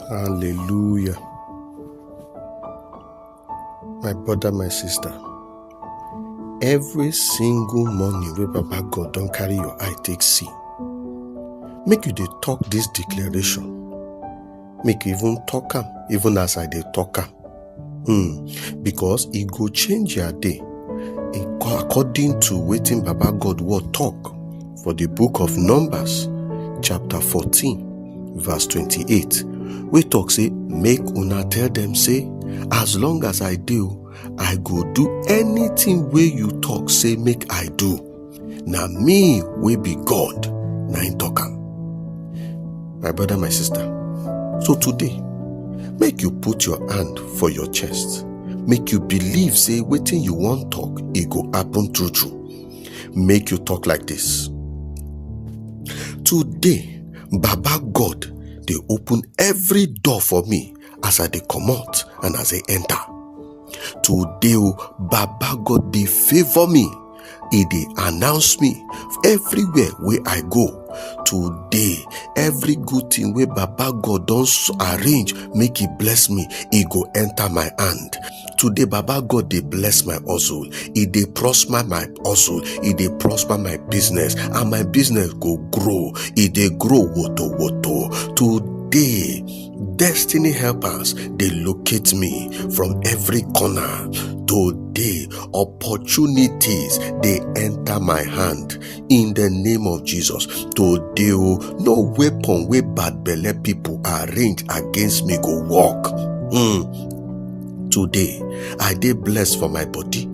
Hallelujah. My brother, my sister, every single morning wey Baba God don carry your eye take see, make you dey talk this declaration. Make you even talk am, even as I dey talk am. Hmm, because e go change your day in- according to wetin Baba God word talk for the book of Numbers, chapter 14, verse 28. We talk say, make una tell them say, as long as I do, I go do anything wey you talk say make I do. na me wey be god na im talk am my brother my sister so today make you put your hand for your chest make you believe say wetin you wan talk e go happen true true make you talk like this today baba god dey open every door for me as i dey comot and as i enter today o baba god dey favour me e dey announce me everywhere wey i go today every good thing wey baba god don s- arrange make e bless me e go enter my hand today baba god dey bless my hustle e dey prosper my hustle e dey prosper my business and my business go grow e dey grow woto woto today destiny helpers dey locate me from every corner today opportunities dey enter my hand in the name of jesus today o no weapon wey bad belle people arrange against me go work mm. today i dey blessed for my body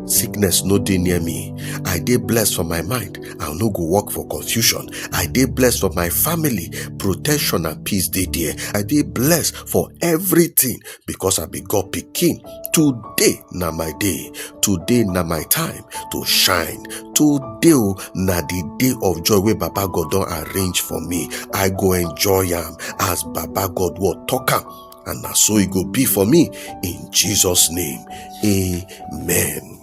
sickness no dey near me i dey blessed for my mind I no go walk for confusion. I dey blessed for my family. Protection and peace dey there. I dey blessed for everything because I be God pikin. Today na my day. Today na my time to shine. Today o na the day of joy wey Baba God don arrange for me. I go enjoy am as Baba God word talk am. And na so e go be for me in Jesus name. Amen.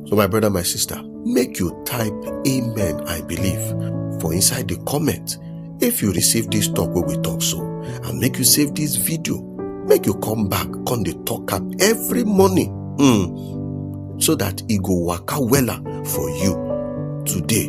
So, my brother, my sister, make you type Amen, I believe, for inside the comment if you receive this talk where we talk so, and make you save this video, make you come back on the talk up every morning mm, so that it go waka wella for you today